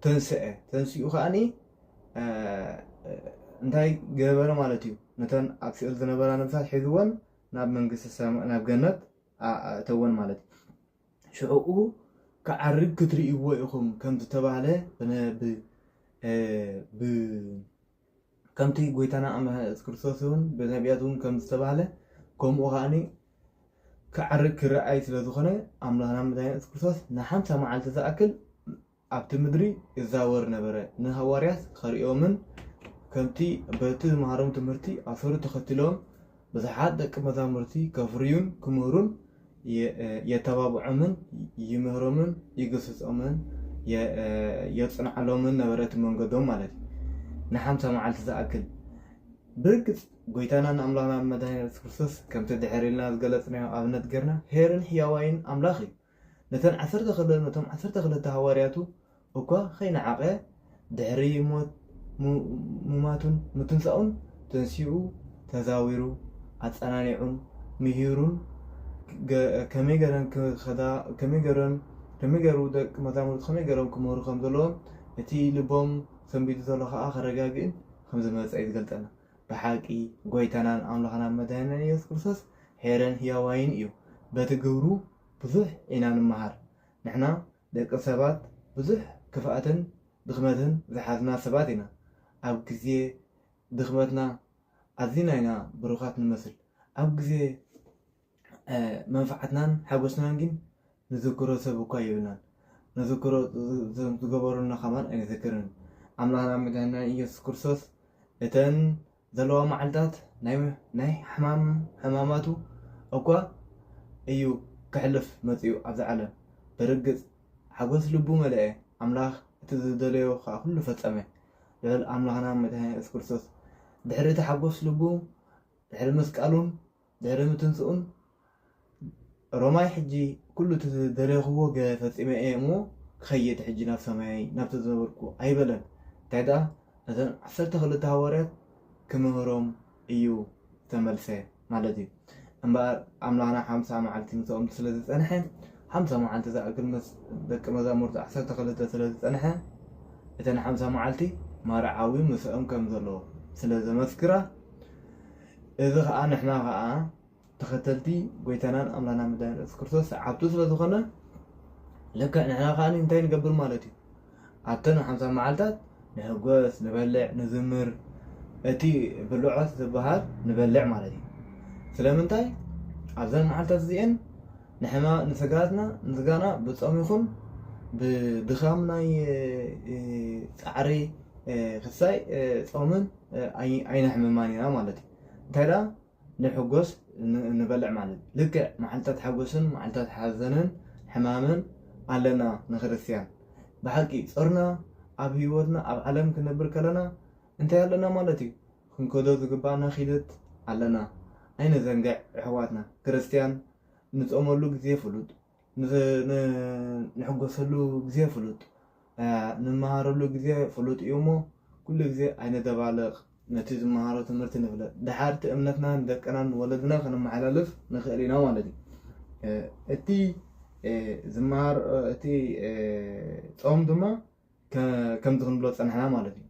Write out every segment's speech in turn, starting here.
ተንስዐ ተንሲኡ ከዓኒ እንታይ ገበረ ማለት እዩ ነተን ኣብ ሲኦል ዝነበራ ነብሳት ሒዝወን ናብ መንግስቲ ሰማይ ናብ ገነት ኣእተወን ማለት እዩ ሽዕኡ ክዓርግ ክትርእይዎ ኢኹም ከም ዝተባህለ ብነ- ብ- እ፣ ብ- ከምቲ ጎይታና ኣምላኽና ኢየሱስ ክርስቶስ እውን ብነቢያት እውን ከም ዝተባህለ ከምኡ ከኣኒ ክዓርግ ክረኣይ ስለ ዝኾነ ኣምላኽና መድኃኒና ኢየሱስ ክርስቶስ ንሓምሳ መዓልቲ ዝኣክል ኣብቲ ምድሪ ይዛወር ነበረ። ንሃዋርያት ከርእዮምን ከምቲ በቲ ዝመሃሮም ትምህርቲ ኣሰሩ ተኸትሎም ብዙሓት ደቂ መዛሙርቲ ከፍርዩን ክምህሩን የተባብዖምን ይምህሮምን ይግስጾምን የጽንዓሎምን ነበረ፣ እቲ መንገዶም ማለት እዩ፣ ንሓምሳ መዓልቲ ዝኣክል። ብርግጽ፣ ጐይታናን ኣምላኽናን መድኃኒና ኢየሱስ ክርስቶስ ከምቲ ድሕር ኢልና ዝገለጽናዮ ኣብነት ጌርና ኄርን ሕያዋይን ኣምላኽ እዩ። ነተን ዓሰርተ ክለ ነቶም ዓሰርተ ክለተ ሃዋርያቱ እኳ ኸይነዓቐ ድሕሪ ሞት ሙማቱን ምትንሳኡን ተንሲኡ ተዛዊሩ ኣጸናኒዑን ምሂሩን ገ ከመይ ገረን ክኸዳ ከመይ ገረን ከመይ ገሩ ደቂ መዛሙርቱ ከመይ ገሮም ክምህሩ ከም ዘለዎም እቲ ልቦም ሰንቢዱ ዘሎ ኸኣ ከረጋግእን ከም ዝመጸ እዩ ዝገልጸልና። ብሓቂ ጎይታናን ኣምላኽናን መድኃኒናን ኢየሱስ ክርስቶስ ኄርን ሕያዋይን እዩ። በቲ ግብሩ ብዙሕ ኢና ንመሃር። ንሕና ደቂ ሰባት ብዙሕ ክፍኣትን ድኽመትን ዝሓዝና ሰባት ኢና። ኣብ ግዜ ድኽመትና ኣዚና ኢና ብሩኻት ንመስል። ኣብ ግዜ። መንፍዓትናን ሓጎስናን ግን ንዝክሮ ሰብ እኳ የብልናን ንዝክሮ እዞም ዝገበሩልና ከማን ኣይንዝክርን ኣምላክናን መድሃኒናን ኢየሱስ ክርስቶስ እተን ዘለዋ መዓልታት ናይ ናይ ሕማም ሕማማቱ እኳ እዩ ክሕልፍ መጺኡ ኣብዚ ዓለም ብርግጽ ሓጎስ ልቡ መለኤ ኣምላክ እቲ ዝደለዮ ከኣ ኩሉ ፈጸመ ልዑል ኣምላክናን መድሃኒና ኢየሱስ ክርስቶስ ድሕሪ እቲ ሓጎስ ልቡ ድሕሪ ምስቃሉን ድሕሪ ምትንስኡን ሮማይ ሕጂ ኩሉ እቲ ዝደለኹዎ ገ ፈጺመ እየ እሞ ክኸይድ ሕጂ ናብ ሰማየይ ናብቲ ዝነበርኩ ኣይበለን እንታይ ደኣ ነተን ዓሰርተ ክልተ ሃዋርያት ክምህሮም እዩ ዝተመልሰ ማለት እዩ እምበኣር ኣምላኽና ሓምሳ መዓልቲ ምስኦም ስለ ዝጸንሐ ሓምሳ መዓልቲ ዝኣክል ምስ ደቂ መዛሙርቱ ዓሰርተ ክልተ ስለ ዝጸንሐ እተን ሓምሳ መዓልቲ ማርዓዊ ምስኦም ከም ዘሎ ስለ ዘመስክራ እዚ ከኣ ንሕና ከኣ ተኸተልቲ ጎይታናን ኣምላናን መድኃኒና ኢየሱስ ክርስቶስ ሰዓብቱ ስለ ዝኾና ልክዕ ንሕና ከኣ እንታይ ንገብር ማለት እዩ ኣብተን ሓምሳ መዓልታት ንሕጎስ ንበልዕ ንዝምር እቲ ብልዖት ዝበሃል ንበልዕ ማለት እዩ ስለምንታይ ኣብዘን መዓልታት እዚኤን ንሕና ንስጋትና ንስጋና ብጾም ይኹን ብድኻም ናይ ጻዕሪ ክሳይ ጾምን ኣይነሕምማን ኢና ማለት እዩ። እንታይ ደኣ ንሕጎስ ንበልዕ ማለት እዩ። ልክዕ መዓልትታት ሓጎስን መዓልትታት ሓዘንን ሕማምን ኣለና ንክርስትያን። ብሓቂ ጾርና ኣብ ህይወትና ኣብ ዓለም ክንነብር ከለና እንታይ ኣለና ማለት እዩ ክንከዶ ዝግባኣና ኪደት ኣለና። ኣይንዘንግዕ የሕዋትና ክርስትያን ንጾመሉ ግዜ ፍሉጥ ንሕጎሰሉ ግዜ ፍሉጥ፣ ንመሃረሉ ግዜ ፍሉጥ እዩ እሞ ኩሉ ግዜ ኣይነደባልቕ፣ ነቲ ዝመሃሮ ትምህርቲ ንፍለጥ፣ ደሓር እቲ እምነትና ንደቅናን ንወለድና ከነመሓላልፍ ንኽእል ኢና ማለት እዩ። እቲ ዝመሃር እቲ ጾም ድማ ከምዚ ክንብሎ ዝጸናሕና ማለት እዩ።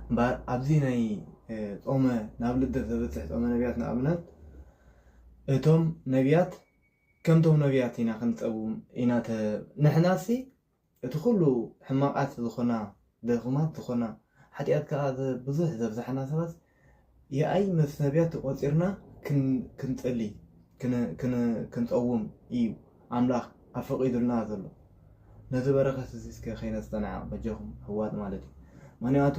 እምበኣር ኣብዚ ናይ ጾመ ናብ ልደት ዘብጽሕ ጾመ ነቢያት ንኣብነት እቶም ነቢያት ከምቶም ነብያት ኢና ክንጸውም ኢና ተ ንሕናሲ እቲ ኩሉ ሕማቃት ዝኾና ድኹማት ዝኾና ሓጥያት ከኣ ብዙሕ ዘብዛሕና ሰባት የኣይ ምስ ነብያት ተቆጺርና ክንጽሊ ክንጸውም ኢዩ ኣምላኽ ኣፈቂዱልና ዘሎ ነዚ በረኸት እዚ እስከ ከይነስተናዕቅ በጃኹም ኣሕዋት ማለት ኢዩ ምክንያቱ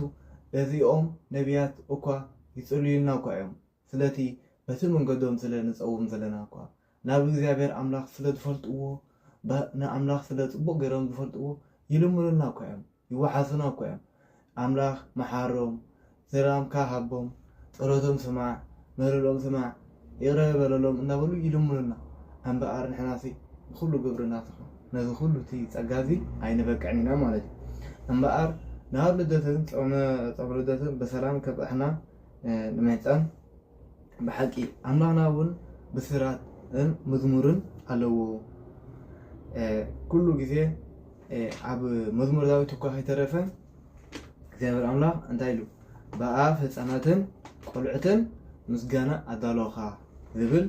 እዚኦም ነብያት እኳ ይጽልዩልና እኳ ኢዮም ስለቲ በቲ መንገዶም ስለ ንጸውም ዘለና እኳ፣ ናብ እግዚኣብሔር ኣምላኽ ስለ ዝፈልጥዎ፣ ንኣምላኽ ስለ ጽቡቕ ገይሮም ዝፈልጥዎ፣ ይልምኑልና እኳ እዮም፣ ይወሓሱና እኳ እዮም። ኣምላኽ መሓሮም፣ ሰላምካ ሃቦም፣ ጸሎቶም ስማዕ፣ ምህልልኦም ስማዕ፣ ይቕረ በለሎም እናበሉ ይልምኑልና። እምበኣር ንሕናሲ ብኹሉ ግብርና ተኾን ነዚ ኩሉ እቲ ጸጋ እዚ ኣይንበቅዕን ኢና ማለት እዩ። እምበኣር ናብ ልደትን ጾመ ልደትን ብሰላም ከብጽሓና ንመህፃን ብሓቂ ኣምላኽና እውን ብስራትን መዝሙርን ኣለዎ ኩሉ ግዜ ኣብ መዝሙር ዳዊት እኳ ከይተረፈ እግዚኣብሔር ኣምላኽ እንታይ ኢሉ ብኣፍ ህፃናትን ቆልዑትን ምስጋና ኣዳሎኻ ዝብል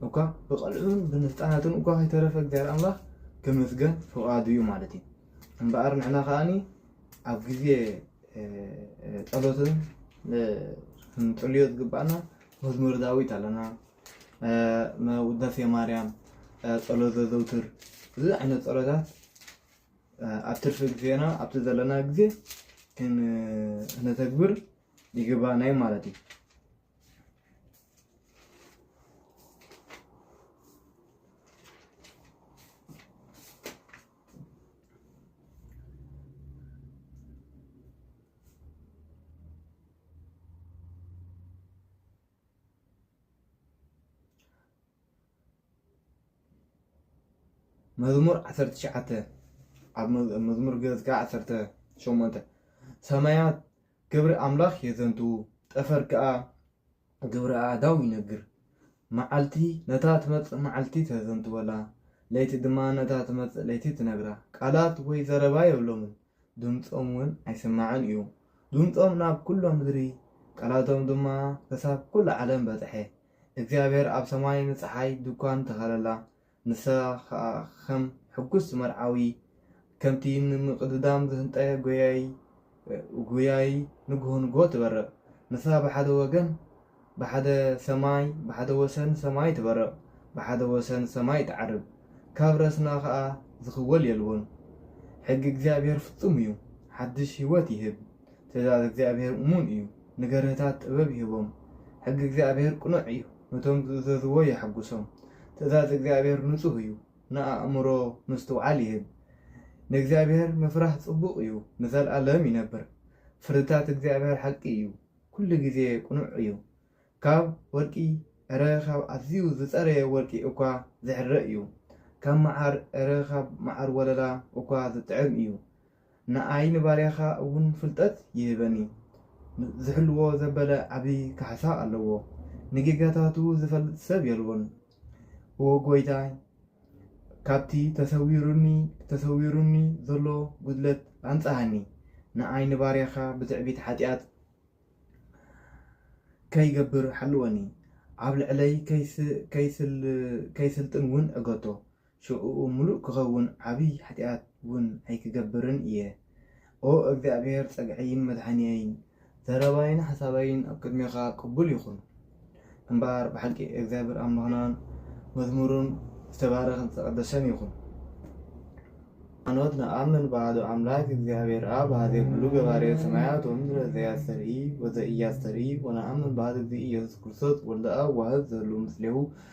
እኳ ብቐልዑን ብንህፃናትን እኳ ከይተረፈ እግዚኣብሔር ኣምላኽ ክምስገን ፍቓዱ እዩ ማለት እዩ እምበኣር ንሕና ከዓኒ ኣብ ግዜ ጸሎትን ክንጽልዮ ዝግባእና መዝሙር ዳዊት ኣለና ውዳሴ ማርያም ጸሎት ዘዘውትር እዚ ዓይነት ጸሎታት ኣብ ትርፊ ግዜና ኣብቲ ዘለና ግዜ ክነተግብር ይግባእና እዩ ማለት እዩ መዝሙር ዓሰርተ ትሽዓተ ኣብ መዝሙር ገጽ ከዓ ዓሰርተ ሸሞንተ ሰማያት ግብሪ ኣምላኽ የዘንትዉ ጠፈር ከዓ ግብረ ኣእዳው ይነግር። መዓልቲ ነታ ትመጽእ መዓልቲ ተዘንትወላ፣ ለይቲ ድማ ነታ ትመጽእ ለይቲ ትነግራ። ቃላት ወይ ዘረባ የብሎምን፣ ድምጾም ውን ኣይስማዕን ኢዩ። ድምጾም ናብ ኩሎ ምድሪ፣ ቃላቶም ድማ ክሳብ ኩሉ ዓለም በጽሐ። እግዚኣብሄር ኣብ ሰማይ ንጸሓይ ድኳን ተኸለላ፣ ንሳ ኸኣ ኸም ሕጉስ መርዓዊ፣ ከምቲ ንምቕድዳም ዝህንጠየ ጐያዪ ጐያዪ ንግሆ ንግሆ ትበርቕ። ንሳ ብሓደ ወገን ብሓደ ሰማይ ብሓደ ወሰን ሰማይ ትበርቕ፣ ብሓደ ወሰን ሰማይ ትዓርብ፣ ካብ ረስና ኸኣ ዝኽወል የልቦን። ሕጊ እግዚኣብሄር ፍጹም እዩ፣ ሓድሽ ህይወት ይህብ። ትእዛዝ እግዚኣብሄር እሙን እዩ፣ ንገርህታት ጥበብ ይህቦም። ሕጊ እግዚኣብሄር ቅኑዕ እዩ፣ ነቶም ዚእዘዝዎ የሐጕሶም። ትእዛዝ እግዚኣብሄር ንጹህ እዩ፣ ንኣእምሮ ምስትውዓል ይህብ። ንእግዚኣብሄር ምፍራህ ጽቡቕ እዩ፣ ንዘለኣለም ይነብር። ፍርድታት እግዚኣብሄር ሓቂ እዩ፣ ኵሉ ግዜ ቅኑዕ እዩ። ካብ ወርቂ ዕረ ኻብ ኣዝዩ ዝጸረየ ወርቂ እኳ ዚሕረ እዩ፣ ካብ መዓር ዕረ ኻብ መዓር ወለላ እኳ ዚጥዕም እዩ። ንኣይ ንባርያኻ እውን ፍልጠት ይህበኒ። ዚሕልዎ ዘበለ ዓቢ ካሕሳ ኣለዎ፣ ንጌጋታቱ ዚፈልጥ ሰብ የልቦን። እወ ጐይታይ፣ ካብቲ ተሰዊሩኒ፣ ተሰዊሩኒ ዘሎ ጕድለት ኣንጽሃኒ፣ ንኣይ ንባርያኻ ብትዕቢት ሓጢኣት ከይገብር ሓልወኒ፣ ኣብ ልዕለይ ከይስልጥንውን ዕገቶ። ሽዕኡ ምሉእ ክኸውን ዓብይ ሓጢኣት ውን ኣይክገብርን እየ። ኦ እግዚኣብሔር ጸግዐይን መድሓኒየይን ዘረባይን ሓሳበይን ኣብ ቅድሜኻ ቅቡል ይኹን። እምበኣር ብሓቂ እግዚኣብሔር ኣምላኽናን መዝሙሩን ዝተባረኸን ዝተቐደሰን ይኹን። ሃይማኖት ንኣምን ብሃዱ ኣምላክ እግዚኣብሔር ኣብ ሃዜ ኩሉ ገባሬ ሰማያት ወምድረ ዘያስተርኢ ወዘኢያስተርኢ ወነኣምን ብሃዱ እግዚእ ኢየሱስ ክርስቶስ ወልደ ኣብ ዋህድ ዘህሉ ምስሌሁ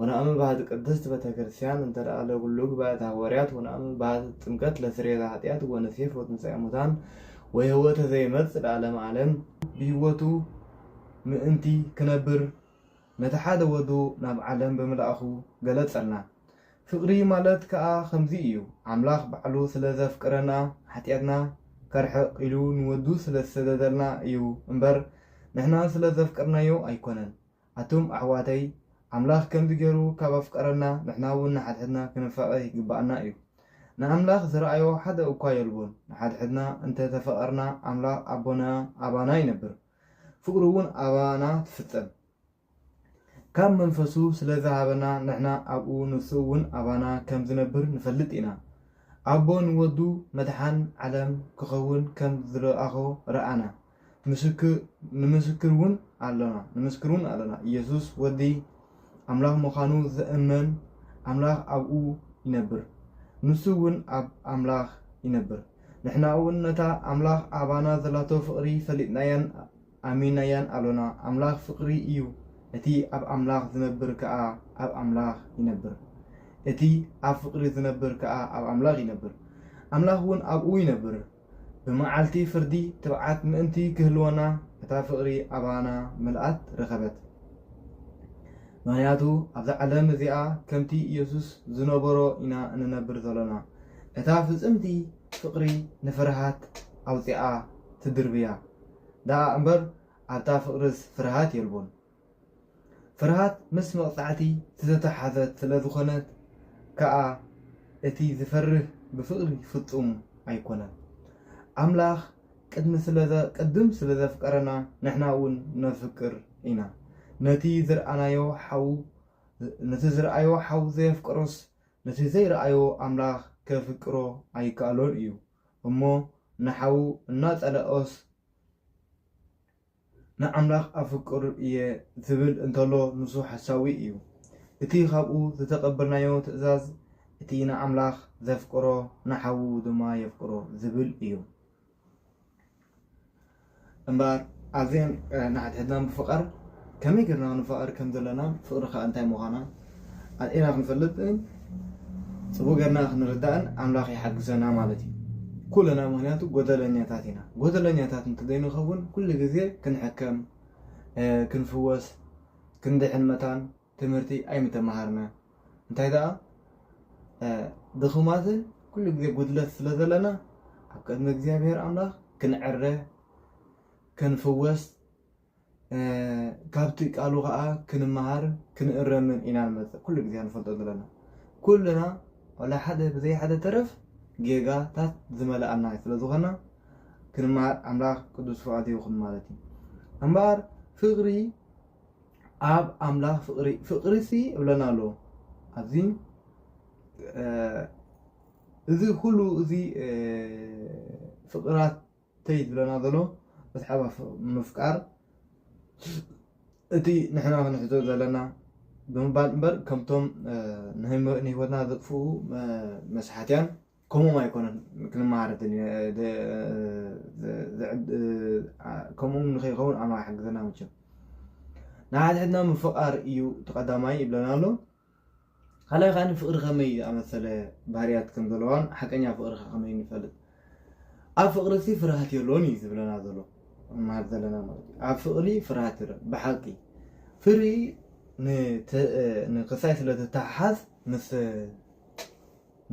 ወነኣምን በሀት ቅድስት ቤተክርስቲያን እንተ ለጉሉግ በእት ሐወርያት ወነኣምን በሀት ጥምቀት ለስርየተ ኃጢአት ወነሴፍ ወትንሣኤ ሙታን ወሕይወተ ዘይመጽእ ለዓለመ ዓለም ብሕይወቱ ምእንቲ ክነብር ነቲ ሓደ ወዱ ናብ ዓለም ብምልኣኹ ገለጸልና። ፍቕሪ ማለት ከኣ ከምዚ እዩ፣ ኣምላኽ ባዕሉ ስለ ዘፍቅረና ኃጢኣትና ከርሕቕ ኢሉ ንወዱ ስለ ዝሰደደልና እዩ እምበር ንሕና ስለ ዘፍቀርናዮ ኣይኮነን። ኣቱም ኣሕዋተይ ኣምላኽ ከምዚ ጌሩ ካብ ኣፍቀረና ንሕና ውን ንሓድሕድና ክንፋቀ ይግባኣና እዩ ንኣምላኽ ዝረኣዮ ሓደ እኳ የልቦን ንሓድሕድና እንተ ተፈቀርና ኣምላኽ ኣቦና ኣባና ይነብር ፍቅሩ ውን ኣባና ትፍጸም ካብ መንፈሱ ስለ ዝሃበና ንሕና ኣብኡ ንሱ ውን ኣባና ከም ዝነብር ንፈልጥ ኢና ኣቦ ንወዱ መድሓን ዓለም ክኸውን ከም ዝለኣኾ ረኣና ንምስክር እውን ኣሎና፣ ኢየሱስ ወዲ ኣምላኽ ምዃኑ ዝእመን ኣምላኽ ኣብኡ ይነብር፣ ንሱ እውን ኣብ ኣምላኽ ይነብር። ንሕና እውን ነታ ኣምላኽ ኣባና ዘላቶ ፍቕሪ ፈሊጥናያን ኣሚንናያን ኣሎና። ኣምላኽ ፍቕሪ እዩ፣ እቲ ኣብ ኣምላኽ ዝነብር ከኣ ኣብ ኣምላኽ ይነብር፣ እቲ ኣብ ፍቕሪ ዝነብር ከኣ ኣብ ኣምላኽ ይነብር፣ ኣምላኽ እውን ኣብኡ ይነብር። ብመዓልቲ ፍርዲ ትብዓት ምእንቲ ኪህልወና፣ እታ ፍቕሪ ኣባና ምልኣት ረኸበት። ምኽንያቱ ኣብዛ ዓለም እዚኣ ከምቲ ኢየሱስ ዝነበሮ ኢና እንነብር ዘሎና። እታ ፍጽምቲ ፍቕሪ ንፍርሃት ኣውጺኣ ትድርብያ ደኣ እምበር ኣብታ ፍቕርስ ፍርሃት የልቦን። ፍርሃት ምስ መቕጻዕቲ ዝተተሓሓዘት ስለ ዝኾነት ከኣ እቲ ዝፈርህ ብፍቕሪ ፍጹም ኣይኮነን። ኣምላኽ ቅድም ስለ ዘፍቀረና ንሕና እውን ነፍቅር ኢና። ነቲ ዝርኣናዮ ሓው ነቲ ዝርኣዮ ሓው ዘየፍቀሮስ ነቲ ዘይርኣዮ ኣምላኽ ከፍቅሮ ኣይከኣሎን እዩ እሞ ንሓው እናጸለኦስ ንኣምላኽ ኣፍቅር እየ ዚብል እንተሎ ንሱ ሓሳዊ እዩ። እቲ ኻብኡ ዝተቐበልናዮ ትእዛዝ እቲ ንኣምላኽ ዜፍቅሮ ንሓዉ ድማ የፍቅሮ ዚብል እዩ። እምበኣር ኣዘን ንሓድሕድና ምፍቓር ከመይ ጌርና ንፋቐር ከም ዘለና ፍቕሪ ኸኣ እንታይ ምዃና ኣርኢና ክንፈልጥን ጽቡቅ ገርና ክንርዳእን ኣምላክ ይሓግዘና ማለት እዩ ኩልና ምክንያቱ ጎደለኛታት ኢና ጎደለኛታት እንተዘይንከውን ኩሉ ግዜ ክንሕከም ክንፍወስ ክንድሕን መታን ትምህርቲ ኣይምተማሃርና እንታይ ደኣ ድኹማትን ኩሉ ግዜ ጉድለት ስለ ዘለና ኣብ ቅድሚ እግዚኣብሔር ኣምላኽ ክንዕረ ክንፍወስ ካብቲ ቃሉ ከዓ ክንመሃር ክንእረምን ኢና ንመፅእ ኩሉ ግዜ ንፈልጦ ዘለና ኩልና ዋላ ሓደ ብዘይ ሓደ ተረፍ ጌጋታት ዝመልኣና ስለ ዝኾና ክንመሃር ኣምላኽ ቅዱስ ፍቓዱ ይኹን ማለት እዩ እምበኣር ፍቕሪ ኣብ ኣምላኽ ፍቕሪ ፍቕሪ ሲ እብለና ኣሎ ኣብዚ እዚ ኩሉ እዚ ፍቕራት ተይ ዝብለና ዘሎ ብትሓባ ምፍቃር እቲ ንሕና ክንሕዞ ዘለና ብምባል እምበር ከምቶም ንህይወትና ዘጥፍኡ መስሓትያን ከምኡም ኣይኮነን ክንመሃር ከምኡም ንከይኸውን ኣምላኽ ሓግዘና መቸም ንሓድሕድና ምፍቃር እዩ ተቀዳማይ ይብለና ኣሎ ካልኣይ ከኣ ፍቅሪ ከመይ ዝኣመሰለ ባህርያት ከም ዘለዋን ሓቀኛ ፍቅሪ ከ ከመይ ንፈልጥ ኣብ ፍቅሪ ሲ ፍርሃት የሎን እዩ ዝብለና ዘሎ ንመሃር ዘለና ማለት እዩ ኣብ ፍቅሪ ፍርሃት የሎን ብሓቂ ፍሪ ንክሳይ ስለ ትተሓሓዝ ምስ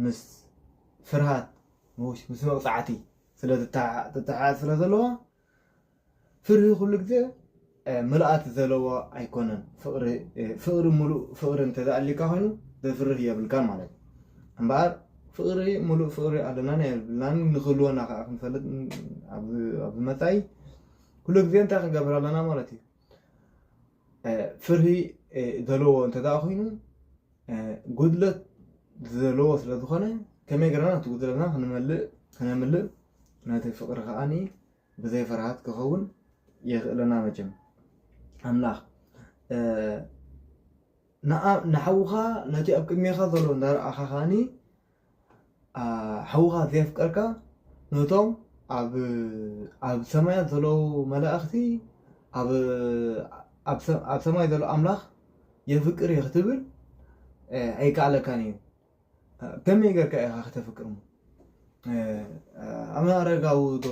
ምስ ፍርሃት ምስ መቅጻዕቲ ስለ ትተሓሓዝ ስለ ዘለዋ ፍርሂ ኩሉ ግዜ ምልኣት ዘለዎ ኣይኮነን ፍቅሪ ፍቅሪ ሙሉእ ፍቅሪ እንተዘይ ኣልዩካ ኮይኑ ዘፍርህ የብልካን ማለት እዩ እምበኣር ፍቅሪ ሙሉእ ፍቅሪ ኣለናን የብልናን ንክህልወና ከዓ ክንፈልጥ ኣብ መፃኢ ኩሉ ግዜ እንታይ ክንገብር ኣለና ማለት እዩ ፍርሂ ዘለዎ እንተደኣ ኮይኑ ጉድለት ዘለዎ ስለዝኾነ ከመይ ገርና እቲ ጉድለትና ክንመልእ ክነምልእ ናተይ ፍቅሪ ከኣ ብዘይ ፍርሃት ክከውን የክእለና መቸም ኣምላክ ንሓውካ ነቲ ኣብ ቅድሜካ ዘሎ እንዳረኣካ ከዓኒ ሓውካ ዘየፍቀርካ ነቶም ኣብ ሰማያት ዘለዉ መላእክቲ ኣብ ሰማይ ዘሎ ኣምላክ የፍቅር እየ ክትብል ኣይከኣለካን እዩ ከመይ ጌርካ ኢኻ ከተፍቅርሞ ኣብነ ኣረጋዊ ዶ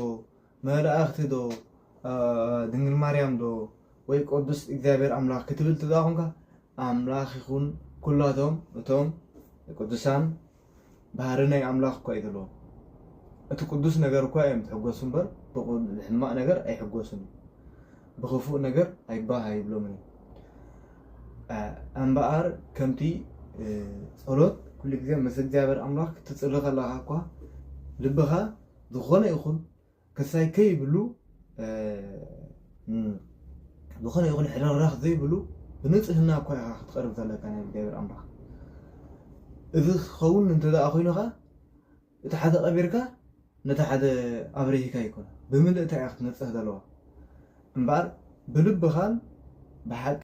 መላእኽቲ ዶ ድንግል ማርያም ዶ ወይ ቅዱስ እግዚኣብሔር ኣምላኽ ክትብል ትብላ ኮንካ ኣምላኽ ይኹን ኩላቶም እቶም ቅዱሳን ባህሪ ናይ ኣምላኽ እኳ እዩ ዘለዎም እቲ ቅዱስ ነገር እኳ እዮም ዝሕጎሱ እምበር ብሕማቕ ነገር ኣይሕጎሱን ብኽፉእ ነገር ኣይባህ ኣይብሎምን እዩ እምበኣር ከምቲ ጸሎት ኩሉ ግዜ ምስ እግዚኣብሔር ኣምላኽ ክትጽሊ ከለኻ እኳ ልብኻ ዝኾነ ይኹን ክሳይ ከይብሉ ዝኾነ ይኹን ሕርኽራኽ ዘይብሉ ብንጽህና እኳ ኢኻ ክትቀርብ ዘለካ ናይ እግዚኣብሔር ኣምላኽ እዚ ክኸውን እንተደኣ ኮይኑኻ እቲ ሓደ ቀቢርካ ነቲ ሓደ ኣብሪሂካ ኣይኮነን ብምልእታ ኢያ ክትነጽህ ዘለዋ እምበኣር ብልብኻን ብሓቂ